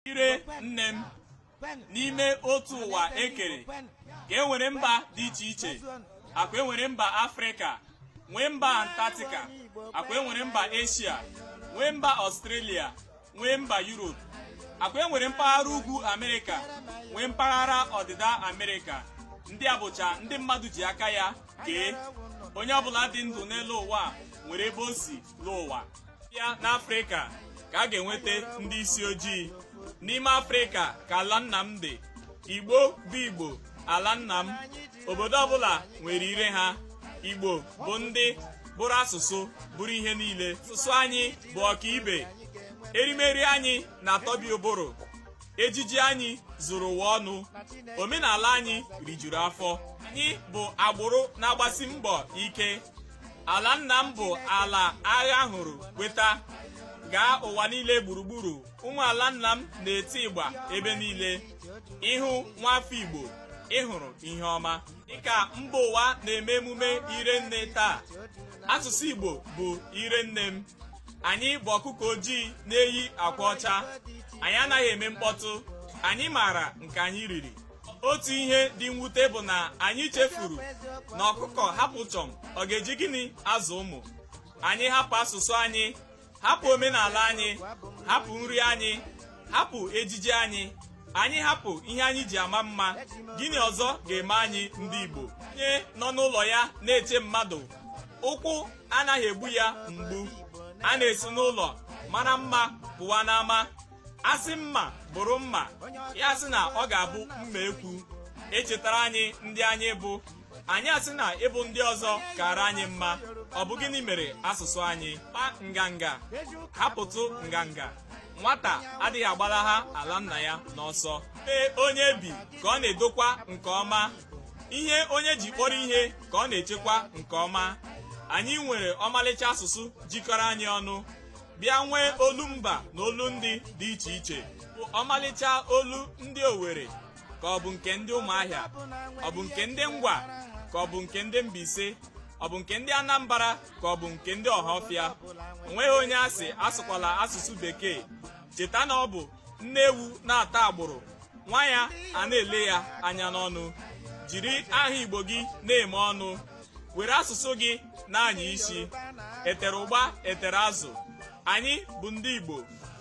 ire nne m n'ime otu ụwa e kere ka e nwere mba dị iche iche akwa enwere mba afrịka nwee mba antarctica akwa enwere mba eshia nwee mba ọstrelia nwee mba yurop akwa enwere mpaghara ugwu amerịka nwee mpaghara ọdịda amerịka ndị a bụcha ndị mmadụ ji aka ya kee onye ọbụla dị ndụ n'elu ụwa nwere ebe o si lụọ ụwa ya n'afrịka ka a ga-enweta ndị isi ojii n'ime afrịka ka ala nna m dị igbo bụ igbo ala nna m obodo ọbụla nwere ire ha igbo bụ ndị bụrụ asụsụ bụrụ ihe niile asụsụ anyị bụ ọkaibe erimeri anyị na-atọbi ụbụrụ ejiji anyị zuru ụwa ọnụ omenala anyị rijuru afọ anyị bụ agbụrụ na-agbasi mbọ ike ala nna m bụ ala agha hụrụ kweta gaa ụwa niile gburugburu ụmụ ala nna m na-eti ịgba ebe niile ị hụ nwafọ igbo ị hụrụ ihe ọma dịka mba ụwa na-eme emume ire nne taa asụsụ igbo bụ ire nne m anyị bụ ọkụkọ ojii na-eyi akwa ọcha anyị anaghị eme mkpọtụ anyị maara nke anyị riri otu ihe dị mwute bụ na anyị chefuru na ọkụkọ hapụ chọm ọ ga-eji gịnị azụ ụmụ anyị hapụ asụsụ anyị hapụ omenala anyị hapụ nri anyị hapụ ejiji anyị anyị hapụ ihe anyị ji ama mma gịnị ọzọ ga-eme anyị ndị Igbo onye nọ n'ụlọ ya na-eche mmadụ ụkwụ anaghị egbu ya mgbu a na-esi n'ụlọ mara mma pụwa n'ama a sị mma bụrụ mma ya sị na ọ ga-abụ mma ekwu e chetara anyị ndị anyị bụ anyị asị na ịbụ ndị ọzọ kara anyị mma ọ bụ gịnị mere asụsụ anyị kpa nganga hapụtụ nganga nwata adịghị agbalaha ala nna ya n'ọsọ ebe onye bi ka ọ na-edokwa nke ọma ihe onye ji kpọrọ ihe ka ọ na-echekwa nke ọma anyị nwere ọmalịcha asụsụ jikọrọ anyị ọnụ bịa nwee olu mba na olu ndị dị iche iche ọmalịcha olu ndị Owerri ka ọ bụ nke ndị Ụmụahịa ọ bụ nke ndị Ngwa ka ọ bụ nke ndị Mbaise ọ bụ nke ndị Anambra ka ọ bụ nke ndị Ọhafịa o nweghị onye a sị asụkwala asụsụ bekee cheta na ọ bụ nne ewu na-ata agbụrụ nwa ya ana-ele ya anya n'ọnụ jiri aha igbo gị na-eme ọnụ were asụsụ gị na-anya isi e tere ụgba e tere azụ anyị bụ ndị igbo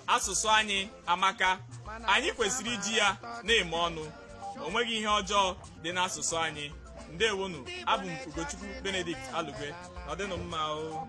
asụsụ anyị amaka anyị kwesịrị iji ya na-eme ọnụ o nweghị ihe ọjọọ dị n'asụsụ anyị ndewonụ abụ m ugochukwu benedict alugwe ọ dịnụ mma o